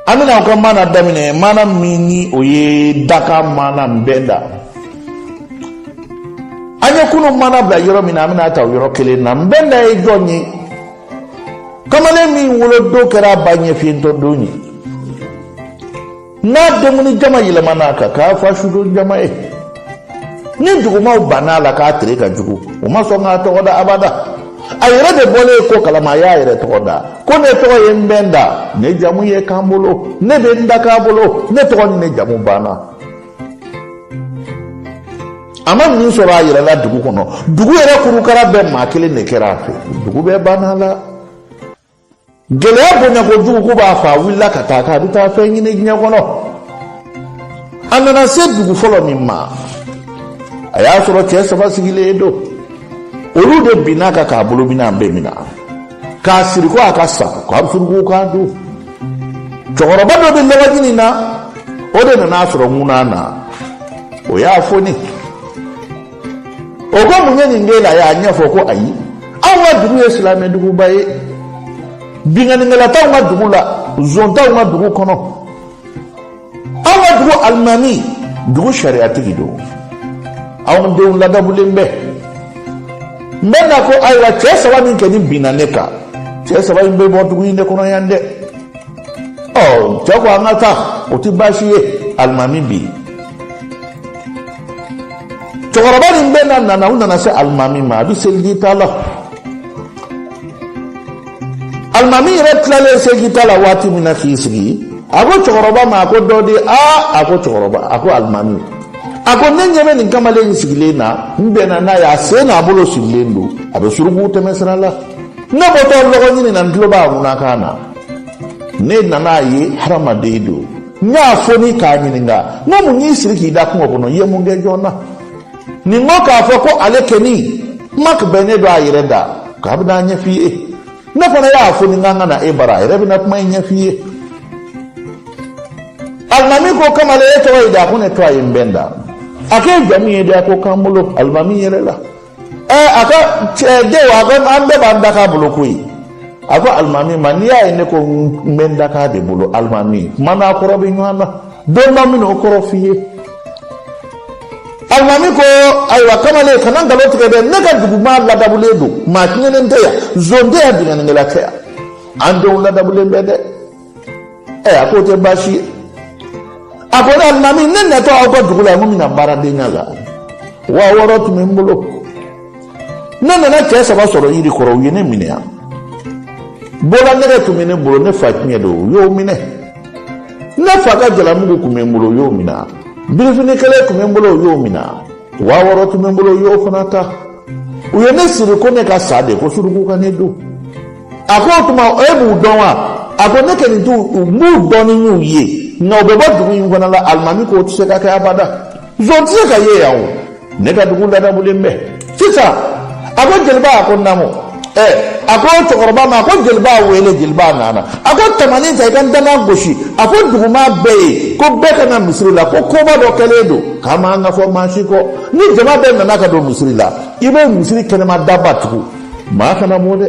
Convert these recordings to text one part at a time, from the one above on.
an bɛna aw ka maana daminɛ maana min ni o ye da ka maana n bɛn da an ye kunun maana bila yɔrɔ min na an bɛn'a ta o yɔrɔ kelen na n bɛn da ye jɔn ye kamalen min wolodon kɛra ba ɲɛfiyentɔ don ye n'a denkundi jama yɛlɛmana ka k'a fa sudon jama ye ni jugumaw banna a la k'a tere ka jugu o ma sɔn k'a tɔgɔ da abada a yɛrɛ de bɔlen ko kalama a y'a yɛrɛ tɔgɔ da ko ne tɔgɔ ye n bɛ n da ne jamu ye k'an bolo ne bɛ n da k'a bolo ne tɔgɔ ni ne jamu banna a ma min sɔrɔ a yɛrɛ la dugu kɔnɔ dugu yɛrɛ kurukara bɛɛ maa kelen de kɛra a fɛ dugu bɛɛ banna la gɛlɛya bonya kojugu ko b'a faa wulila ka taa k'a bɛ taa fɛn ɲini diɲɛ kɔnɔ a nana se dugu fɔlɔ min ma a y'a sɔrɔ cɛ saba sigilen don olu de binna a kan k'a bolo minɛnw bɛɛ minɛ k'a siri ko a ka sa ko a bɛ suruku k'a dun cɛkɔrɔba dɔ bɛ lɔgɔ ɲini na o de nana a sɔrɔ ŋuna na o y'a foni o ko mun ye nin k'e la a y'a ɲɛfɔ ko ayi anw ka dugu ye silamɛ duguba ye binkannikɛla t'anw ka dugu la zon t'anw ka dugu kɔnɔ anw ka dugu alimami dugu sariyatigi don anw denw ladamulen bɛ n bɛn da ko ayiwa cɛ saba min kɛni binna ne kan cɛ saba in bɛ bɔ dugu in de kɔnɔ yan dɛ ɔ cɛ ko an ka taa o tɛ baasi ye alimami bi cɛkɔrɔba ni n bɛn da nana u nana se alimami ma a bɛ seliji ta la. alimami yɛrɛ tilalen seliji ta la waati min na k'i sigi a ko cɛkɔrɔba ma a ko don di aa a ko cɛkɔrɔba a ko alimami a ko ne ɲɛ bɛ nin kamalen in sigilen na n bɛnna n'a ye a sen n'a bolo sirilen don a bɛ suruku tɛmɛsira la ne bɔtɔ lɔgɔ ɲini na n tulo b'a ŋunakan na ne nan'a ye hadamaden don n y'a foni k'a ɲininka n ko mun y'i siri k'i da kungo kɔnɔ i ye mun kɛ jɔn na ne mɔ k'a fɔ ko ale kɛni mak bɛ ne don a yɛrɛ da k'a bɛna a ɲɛf'i ye ne fana y'a foni n k'an ka na e bara a yɛrɛ bɛna kuma in ɲɛf'i ye alimami ko kamalen e tɔgɔ ye di a ko ne tɔgɔ ye n bɛn da a k'e jamu ye di a ko k'an bolo alimami yɛlɛla ɛɛ a ka cɛ denw a ko an bɛɛ b'an da k'a bolo koyi a ko alimami ma n'i y'a ye ne ko n bɛ n da k'a de bolo alimami kuma n'a kɔrɔ bɛ ɲɔgɔn na don dɔ n bɛna o kɔrɔ f'i ye. alimami ko ayiwa kamalen kana nkalon tigɛ dɛ ne ka dugu maa ladamulen don maa tiɲɛnen tɛ yan zon tɛ yan binkannikɛla tɛ yan an denw ladamulen bɛ dɛ ɛ a k'o tɛ baasi ye a ko ne alimami ne natɔ aw ka dugu la n ko n bɛna baaradenya la wa wɔɔrɔ tun bɛ n bolo. ne nana cɛ saba sɔrɔ yiri kɔrɔ u ye ne minɛ yan bolanɛgɛ tun bɛ ne bolo ne fa tiɲɛ don u y'o minɛ ne fa ka jalamugu tun bɛ n bolo u y'o minɛ birifini kelen tun bɛ n bolo u y'o minɛ wa wɔɔrɔ tun bɛ n bolo u y'o fana ta u ye ne siri ko ne ka sa de ko suruku ka ne dun a ko o tuma e b'u dɔn wa a ko ne kɔni tun b'u dɔn ni n y'u ye nka u bɛ bɔ dugu in fana la alimami k'o tɛ se ka kɛ abada Zon tɛ se ka ye yan o ne ka dugu ladabulen bɛ sisan a ko jeliba a ko naamu ɛ a ko cɛkɔrɔba ma a ko jeliba wele jeliba nana a ko tamanin ta i ka danga gosi a fɔ dugumaa bɛɛ ye ko bɛɛ ka na misiri la ko koba dɔ kɛlen don k'a man ka fɔ maa si kɔ ni jama bɛɛ nana ka don misiri la i bɛ misiri kɛnɛma daba tugu maa kana bɔ dɛ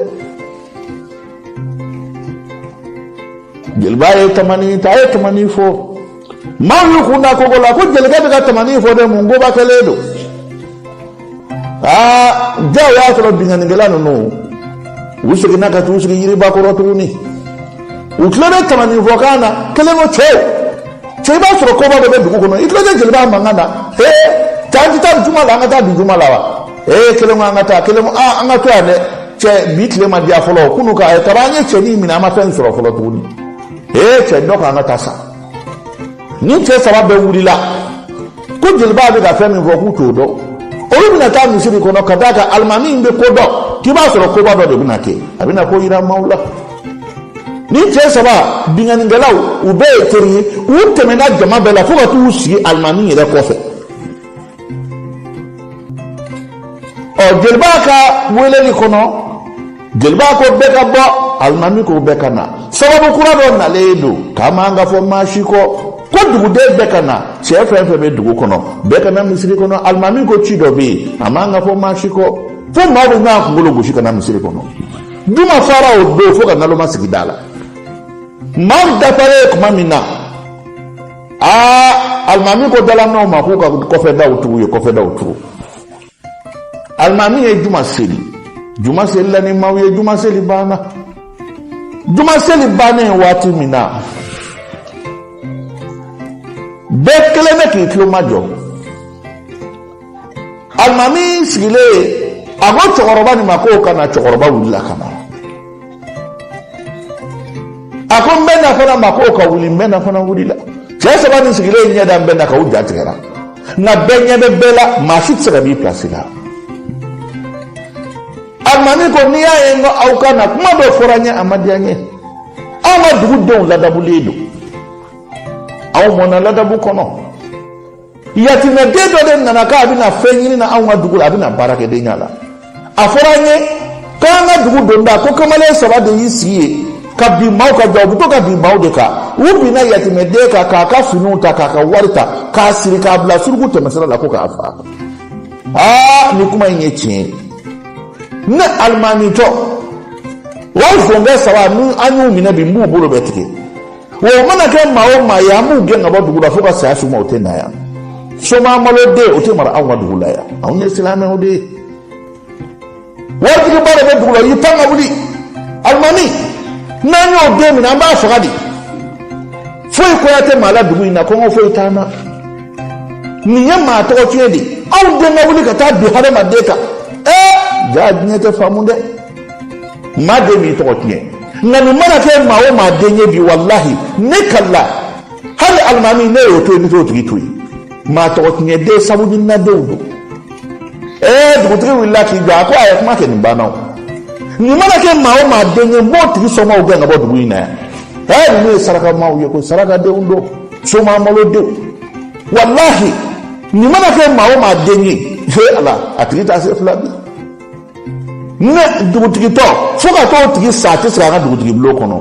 jeliba ye tamanin ta a ye tamanin fɔ maaw y'u kun da kogo la ko jelikɛ bɛ ka tamani fɔ dɛ mun koba kɛlen don aa jaa o y'a sɔrɔ binkannikɛla ninnu u seginna ka t'u sigi yiriba kɔrɔ tuguni u tulo bɛ tamani fɔkan na kelen ko cɛw cɛ i b'a sɔrɔ koba dɔ bɛ dugu kɔnɔ i tulo tɛ jeliba mankan na ee taa an tɛ taa juma la an ka taa bi juma la wa ee kelen ko an ka taa kelen ko aa an ka to yan dɛ cɛ bi tile ma diya fɔlɔ kunu ka kabi an ye cɛnin minɛ an ma fɛn sɔrɔ fɔlɔ tuguni ee cɛ dɔ k'an ka taa sa ni cɛ saba bɛɛ wulila ko jeliba bɛ ka fɛn min fɔ k'u t'o dɔn olu bɛna taa misiri kɔnɔ ka d'a kan alimami in bɛ ko dɔn k'i b'a sɔrɔ koba dɔ de bɛna kɛ a bɛna ko yira maaw la ni cɛ saba binkannikɛlaw u bɛɛ ye teri ye u tɛmɛna jama bɛɛ la fo ka t'u sigi alimami yɛrɛ kɔfɛ ɔ jeliba ka weleli kɔnɔ jeliba ko bɛɛ ka bɔ alimami ko bɛɛ ka na sababu kura dɔ nalen don k'a man ka fɔ maa si kɔ ko duguden bɛɛ ka na cɛ fɛn fɛn bɛ dugu kɔnɔ bɛɛ ka na misiri kɔnɔ alimami ko ci dɔ bɛ yen a man ka fɔ maa si kɔ fo maa bɛ ɲɔgɔn kunkolo gosi ka na misiri kɔnɔ juma fara o don fo ka naloma sigi da la maaw dafalen tuma min na aa alimami ko dalamaaw ma k'u ka kɔfɛ daw tugu u ye kɔfɛ daw tugu alimami ye juma seli juma selila ni maaw ye juma seli banna juma seli bannen waati min na bɛɛ kɛlen bɛ k'i tulo majɔ alimami sigilen a ko cɛkɔrɔba nin ma k'o ka na cɛkɔrɔba wulila ka na a ko n bɛ na fana ma k'o ka wuli n bɛ na fana wulila cɛ saba nin sigilen ɲɛ da n bɛ na kan u ja tigɛra nka bɛɛ ɲɛ bɛ bɛɛ la maa si tɛ se ka b'i pilasi la alimami ko n'i y'a ye n ko aw ka na kuma dɔ fɔra n ye a ma diya n ye an ka dugu denw ladabulen don aw mɔna ladabu kɔnɔ yatimɛden dɔ de nana k'a bɛna fɛn ɲini na anw ka dugu la a bɛna baarakɛdenya la a fɔra an ye k'an ka dugu donda ko kamalen saba de y'i sigi yen ka bin maaw kan jaa u bɛ to ka bin maaw de kan u binna yatimɛden kan k'a ka finiw ta k'a ka wari ta k'a siri k'a bila suruku tɛmɛsira la ko k'a faga aa ni kuma in ye tiɲɛ ye ne alimamitɔ wa sonkɛ saba ni an y'u minɛ bi n b'u bolo bɛɛ tigɛ wa o mana kɛ maa o maa ye an b'u gɛn ka bɔ dugu la fo ka saya s'u ma u tɛ na yan somaa malo den o tɛ mara anw ka dugu la yan anw ye silamɛw de ye waritigiba de bɛ dugu la y'i pan ka wuli alimami n'an y'o den minɛ an b'a faga de foyi koya tɛ maa la dugu in na kɔngɔ foyi t'an na nin ye maa tɔgɔ tiɲɛ de ye aw den ka wuli ka taa bin hadamaden kan ɛɛ jaa diɲɛ tɛ faamu dɛ maa den b'i tɔgɔ tiɲɛ nka nin mana kɛ maa o maa den ye bi walahi ne kalila hali alimami n'e y'o to yen ne t'o tigi to yen maa tɔgɔ tiɲɛ den sabu ni na denw don ee dugutigi wulila k'i jɔ a ko a ye kuma kɛ nin banna o nin mana kɛ maa o maa den ye n b'o tigi somaaw gɛn ka bɔ dugu in na yan ee ninnu ye saraka maaw ye ko saraka denw don somaa malo denw walahi nin mana kɛ maa o maa den ye he ala a tigi t'a se fila bi ne dugutigitɔ fo ka t'o tigi sa a tɛ sigi a ka dugutigibulon kɔnɔ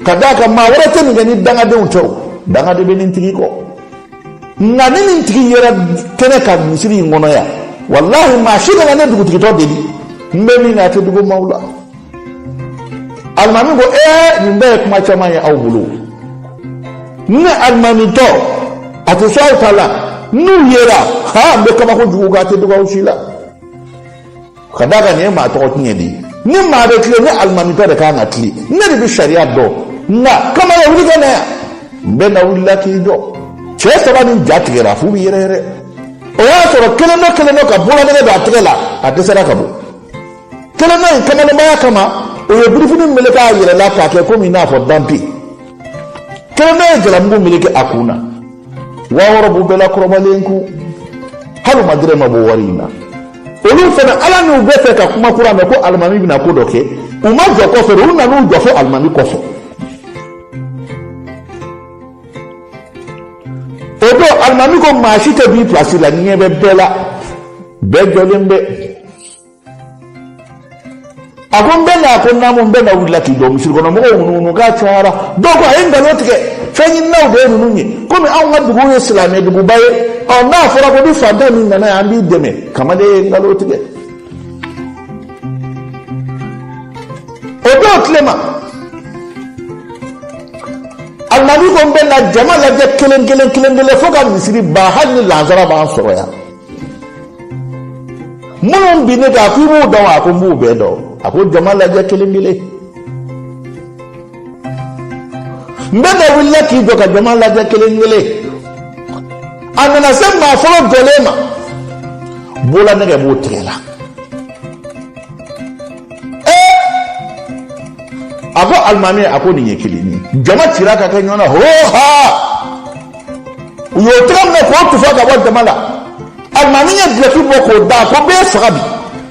ka d'a kan maa wɛrɛ tɛ nin kɛ ni dangadenw tɛ o danga de bɛ nin tigi kɔ nka ni nin tigi yera kɛnɛ kan misiri in kɔnɔ yan walahi maa si kana ne dugutigitɔ deli n bɛ min na a tɛ dugu maaw la alimami ko ee nin bɛɛ ye kuma caman ye aw bolo ne alimamitɔ a tɛ sɔn aw ta la n'u yera ha n bɛ kabako jugu kɛ a tɛ dogo aw si la ka d'a kan nin ye maa tɔgɔ tiɲɛ de ye ni maa bɛ tilen ne alimamitɔ de ka kan ka tilen ne de bɛ sariya dɔn nka kamalen wuli ka na yan n bɛ na wulila k'i jɔ cɛ saba nin ja tigɛra f'u bɛ yɛrɛyɛrɛ o y'a sɔrɔ kelen dɔ kelen dɔ ka bololanɛgɛ don a tɛgɛ la a dɛsɛra k'a bɔ kelen dɔ in kamalenbaya kama o ye birifini meleke a yɛrɛ la k'a kɛ komi i n'a fɔ danpe kelen dɔ ye jalamugu meleke a kun na waa wɔɔrɔ b'u bɛɛ la kɔrɔbalen kun hali u ma dɔrɔmɛ bɔ wari in na olu fana ala n'u bɛ fɛ ka kuma kura mɛn ko alimami bɛna ko dɔ kɛ u ma jɔ kɔfɛ u nan'u jɔ fo alimami kɔfɛ o don alimami ko maa si tɛ b'i pilasi la ɲɛ bɛ bɛɛ la bɛɛ jɔlen bɛ a ko nbɛla a ko naamu nbɛla wulila k'i jɔ misiri kɔnɔ mɔgɔw ŋunuŋunu k'a cayara dɔw ko a ye nkalon tigɛ fɛnɲininaw de ye ninnu ye komi anw ka dugu ye silamɛ duguba ye ɔ n'a fɔra ko bi fantan min nana yan an b'i dɛmɛ kamalen ye nkalon tigɛ o dɔw tilema alimami ko nbɛla jama lajɛ kelen kelen kelen kelen fo ka misiri ban hali ni lansara b'an sɔrɔ yan minnu binna e kan a ko i b'u dɔn wa a ko n b'u bɛɛ dɔn a ko jama lajɛ kelen kelen nbɛla wulila k'i jɔ ka jama lajɛ kelen kelen a nana se maa fɔlɔ jɔlen ma bololanɛgɛ b'o tɛgɛ la a ko alimami a ko nin ye kelen ye jama cira ka kɛ ɲɔgɔn na hoo haa u y'o tɛgɛ minɛ k'o tufa ka bɔ jama la alimami ye dulɔki bɔ k'o da ko n b'e faga bi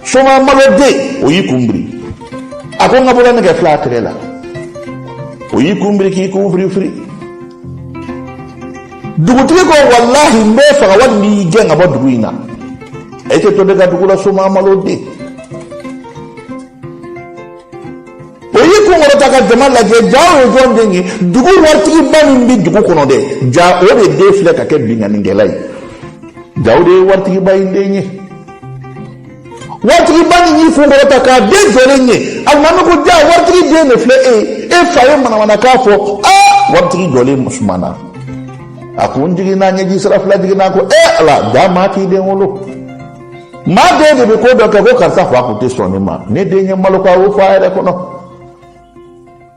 soma maloden o y'i kun biri a ko n ka bolanɛgɛ filɛ a tɛgɛ la o y'i kun biri k'i kun firifiri dugutigi ko walahi n b'e faga wali n b'i gɛn ka bɔ dugu in na e tɛ to ne ka dugu la soma maloden o y'i kun kɔrɔta ka jama lajɛ ja o ye jɔn den ye dugu waritigiba min bɛ dugu kɔnɔ dɛ ja o de den filɛ ka kɛ binkannikɛla ye ja o de ye waritigiba in den ye waritigiba nin y'i kun kɔrɔta k'a den jɔlen ye alimami ko ja waritigi den de filɛ e ye e fa ye manamanakan fɔ aa waritigi jɔlen sumana a kun jiginna ɲɛji sira fila jiginna ko e ala ja maa k'i den wolo maa den de bɛ ko dɔ kɛ ko karisa fa kun tɛ sɔn ne ma ne den ye n malo ko a y'o fɔ a yɛrɛ kɔnɔ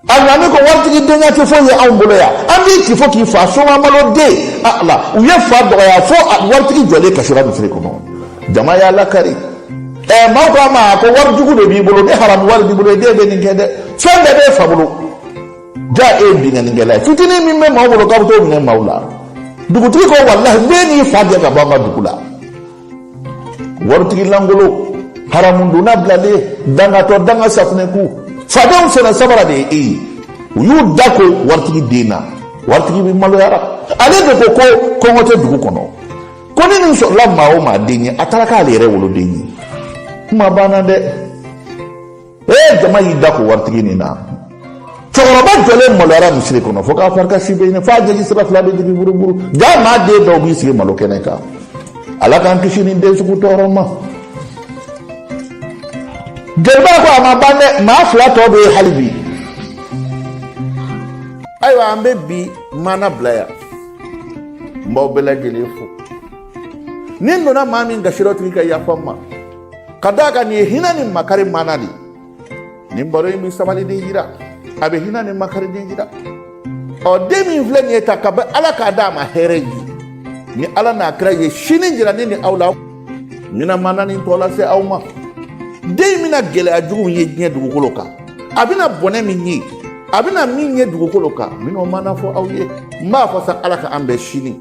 alimami ko waritigi denya tɛ foyi ye anw bolo yan an b'i ci fo k'i fa soma maloden ala u ye fa dɔgɔya fo waritigi jɔlen kasira misiri kɔnɔ jama y'a lakari ɛɛ maaw ko a ma ko wari jugu de b'i bolo ni haramu wari b'i bolo e den bɛ nin kɛ dɛ fɛn bɛɛ b'e fa bolo. ja e ye binkannikɛla ye fitinin min bɛ maaw bolo k'a bɛ t'o minɛ maaw la dugutigi ko walahi n b'e n'i fa gɛn ka bɔ an ka dugu la waritigi lankolon haramudunna bilalen dangatɔ danga safunɛku fadenw sen na sabara de ye e ye u y'u da ko waritigi den na waritigiba maloyara ale de ko ko kɔngɔ tɛ dugu kɔnɔ ko ni nin sɔrɔla maa o maa den ye a taara k'ale yɛrɛ woloden ye kuma banna dɛ ee jama y'i da ko waritigi nin na cɛkɔrɔba jɔlen maloyara misiri kɔnɔ fo k'a farikansi bɛɛ ɲigin f'a ɲɛji sira fila bɛ jigin buruburu jaa maa den dɔw b'i sigi malo kɛnɛ kan ala k'an kisi nin den sugu tɔɔrɔ ma jeliba ko a ma ban dɛ maa fila tɔ bɛ yen hali bi ayiwa an bɛ bi maana bila yan n b'aw bɛɛ lajɛlen fo ni n donna maa min gasi rɔ o tigi ka yafa n ma ka d'a kan nin ye hinɛ ni makari maana de ye nin baro in bɛ sabaliden jira a bɛ hinɛ ni makariden jira ɔ den min filɛ nin ye ta ka bɛ ala k'a d'a ma hɛrɛ ye ni ala n'a kira ye sini jira ne ni aw la n bɛna maana nin tɔ lase aw ma den bɛna gɛlɛya jugu min ye diɲɛ dugukolo kan a bɛna bɔnɛ min ye a bɛna min ye dugukolo kan n bɛna o maana fɔ aw ye n b'a fɔ sa ala ka an bɛn sini